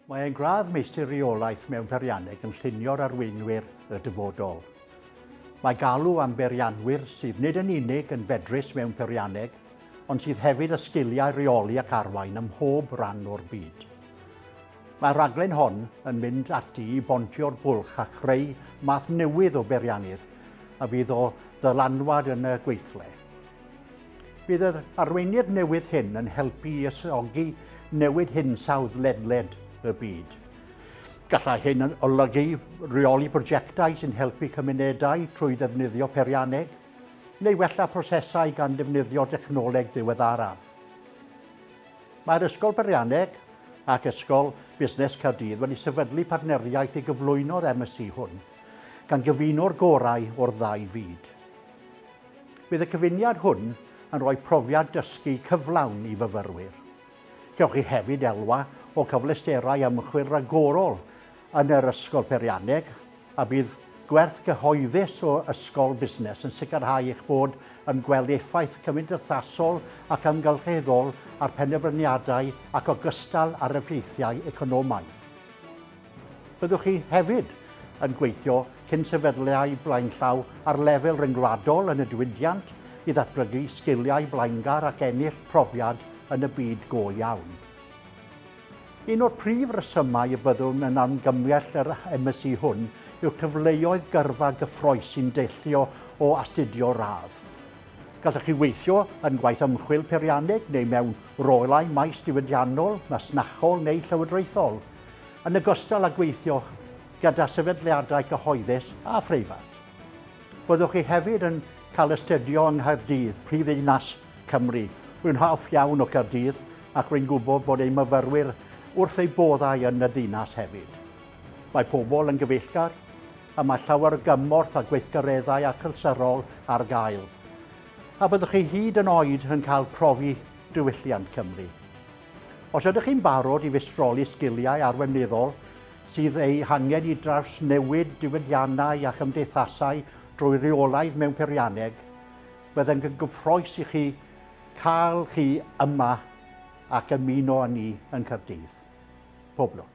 Mae e'n gradd Meistr Reolaeth mewn Peirianneg yn llunio'r arweinwyr y dyfodol. Mae galw am beirianwyr sydd nid yn unig yn fedrus mewn peirianneg, ond sydd hefyd â sgiliau rheoli ac arwain ym mhob rhan o'r byd. Mae'r rhaglen hon yn mynd ati i bontio'r bwlch a chreu math newydd o beiriannydd a fydd o ddylanwad yn y gweithle. Bydd yr arweinydd newydd hyn yn helpu i ysgogi newid hinsawdd ledled y byd. Gallai hyn yn olygu rheoli prosiectau sy'n helpu cymunedau trwy ddefnyddio perianneg, neu wella prosesau gan ddefnyddio dechnoleg ddiweddaraf. Mae'r Ysgol Berianneg ac Ysgol Busnes Caerdydd wedi sefydlu partneriaeth i gyflwyno'r MSC hwn, gan gyfuno'r gorau o'r ddau fyd. Bydd y cyfuniad hwn yn rhoi profiad dysgu cyflawn i fyfyrwyr. Cewch chi hefyd elwa o cyfleusterau ymchwil ragorol yn yr Ysgol Peirianneg a bydd gwerth gyhoeddus o Ysgol Busnes yn sicrhau eich bod yn gweld effaith cymdeithasol ac amgylcheddol ar penderfyniadau ac ogystal ar effeithiau economaidd. Byddwch chi hefyd yn gweithio cyn sefydliau blaenllaw ar lefel ryngwladol yn y diwydiant i ddatblygu sgiliau blaengar ac ennill profiad yn y byd go iawn. Un o'r prif resymau y byddwn yn amgymell yr MSc hwn yw'r cyfleoedd gyrfa gyffroes sy'n deillio o astudio radd. Gallwch chi weithio yn gwaith ymchwil peirianneg neu mewn rolau maes diwydiannol, masnachol neu llywodraethol. yn ogystal â gweithio gyda sefydliadau cyhoeddus a phreifat. Byddwch chi hefyd yn cael astudio yng Nghaerdydd, prifddinas Cymru. Rwy'n hoff iawn o Gaerdydd ac rwy'n gwybod bod ein myfyrwyr wrth eu boddau yn y ddinas hefyd. Mae pobl yn gyfeillgar a mae llawer o gymorth a gweithgareddau achlysyrol ar gael. A byddwch chi hyd yn oed yn cael profi diwylliant Cymru. Os ydych chi'n barod i fistroli sgiliau arweinyddol sydd eu hangen i drawsnewid diwydiannau a chymdeithasau drwy reolaidd mewn peirianneg, byddem yn gyffroes i chi cael chi yma ac ymuno â ni yn Caerdydd. Pob lwc.